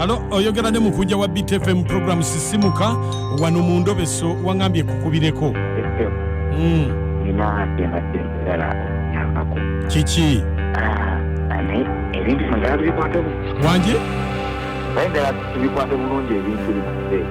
alo oyogera ne mukujja wa btfm program sisimuka wano mu ndobeso wangambye kukubireko kiki wangi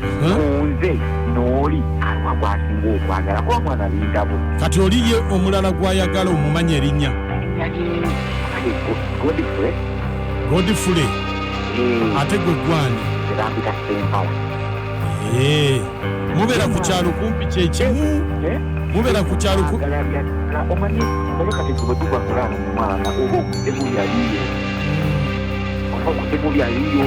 kunze nooli aliwa gwasinga okwagala kuba mwana bindabo kati oli ye omulala gwayagala omumanya erinnya godifule eh. ate gwe gwani eh. mubeera ku kyalo kumpi kyekimu eh? mubeera ku kyalo oba okutemu byaliyo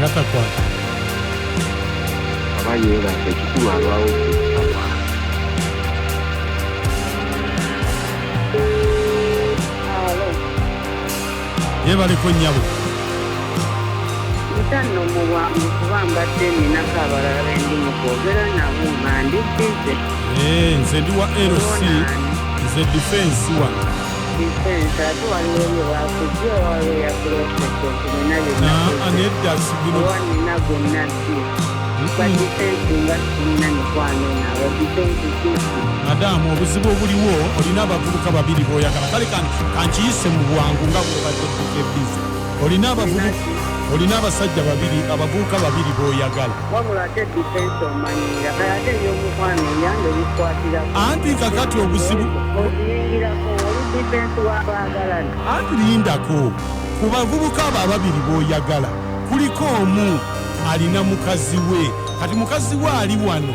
natakwata aba yeebasa ekikulu alwawo yebaliko nyabo ntanno mu bwangu kuba mbadde ninako abalala bendi mu kwogera nabo nga ndi bize Eh, nze ndi wa lc nze defense wa nedda sibiro madamu obuzibu obuliwo olina abavubuka babiri boyagala kale kankiyise mu bwangu nga bwebadde bize olina abavubuka olina abasajja babiri abavubuka babiri boyagala wabula ate difensi omanyiira kale ate ebyomukwano eyange bikwatirako anti kakati obuzibu okiyingirako oli difensi wabaagalana anti lindako ku bavubuka abo ababiri b'oyagala kuliko omu alina mukazi we kati mukazi we ali wano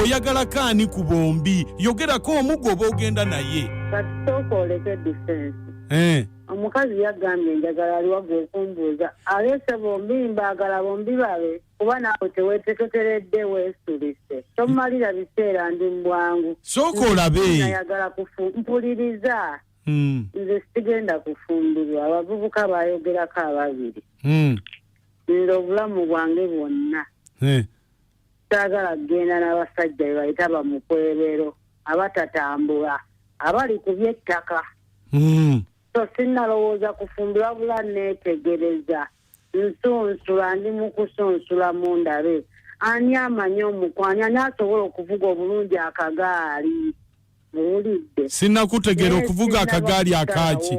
oyagala kaani ku bombi yogerako omu gwoba ogenda naye eh. omukazi yagambye enjagala aliwa gwekumbuuza aleese bombi mbaagala bombi babe kuba naawe teweteketeredde weesulise tomumalira biseera ndi mubwangu sooka olabenayagala mpuliriza hmm. nze sigenda kufumbirwa abavubuka bayogerako ababiri hmm. nze obulamu bwange bwonna eh. Saagala kugenda na basajja be bayita bamukwebero abatatambula abali ku by'ettaka. Hmm. So sinnalowooza kufumbirwa bula neetegereza nsunsula ndi mu kusunsula mu ndabe ani amanyi omukwani ani asobola okuvuga obulungi akagaali muwulidde. Sinnakutegeera okuvuga akagaali akaaki.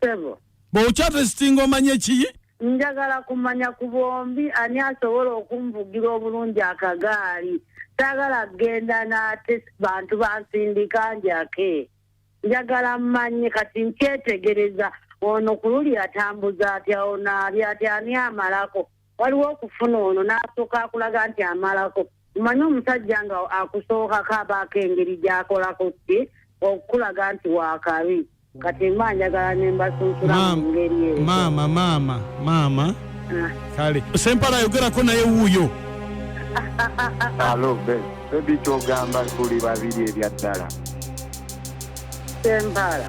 Sebo. Bw'okya testinga omanye ki? Njagala kumanya ku bombi ani asobola okunvugira obulungi akagaali. Saagala kugenda n'ate bantu bansindika njake. Njagala mmanye kati nkyetegereza ono ku luli atambuza atya ono ali atya ani amalako. waliwo okufuna ono n'asooka akulaga nti amalako mumanye omusajja nga akusookako abaako engeri gy'akolako ki okukulaga nti waakabi kati mba njagala ne mbasunsula mu ngeri eyo maama maama maama ah. kale sempala ayogerako naye wuuyo alo bebi kyogamba tuli babiri ebyaddala sempala